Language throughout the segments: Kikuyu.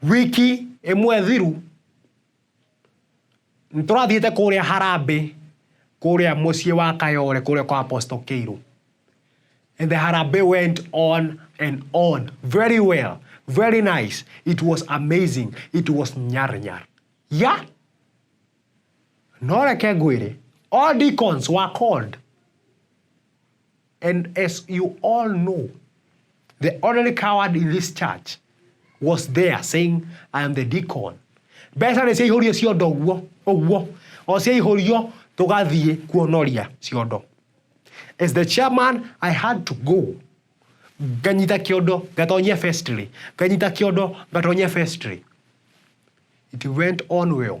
wiki ĩmwe thiru nĩ tũrathiĩte kũrĩa harambĩ kũrĩa mũciĩ wa kayore kũrĩa kwa apostle kĩirũ and the harambĩ went on and on very well very nice it was amazing it was nyar nyar ya no reke ngwĩre all deacons were called And as you all know, the ordinary coward in this church was there saying, I am the deacon. Mbeca nĩ ciaihũrio ciondo ũguo ũguo o ciaihũrio tũgathiĩ kuonoria ciondo. As the chairman, I had to go nganyita kiondo ngatonyia vestry nganyita kiondo ngatonyia vestry it went on well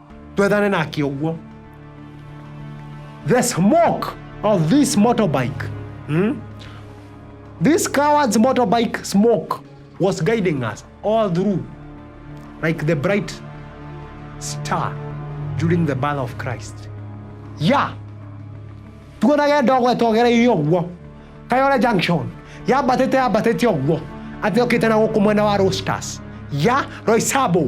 twethane nake ũguo the smoke of this motorbike hmm? this coward's motorbike smoke was guiding us all through like the bright star during the birth of christ ya tuonage ndogo etogereire ũguo kayore junction yambatĩte yambatĩte ũguo atĩ okĩte na gũkũ mwena wa rosters ya roisabo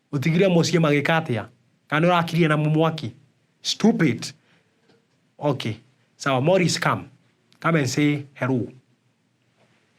Ũtigire mũciĩ magĩka atĩa? Kana nĩ ũrakirie na mwaki? Stupid! Okay, sawa. Morris, come. Come and say hello.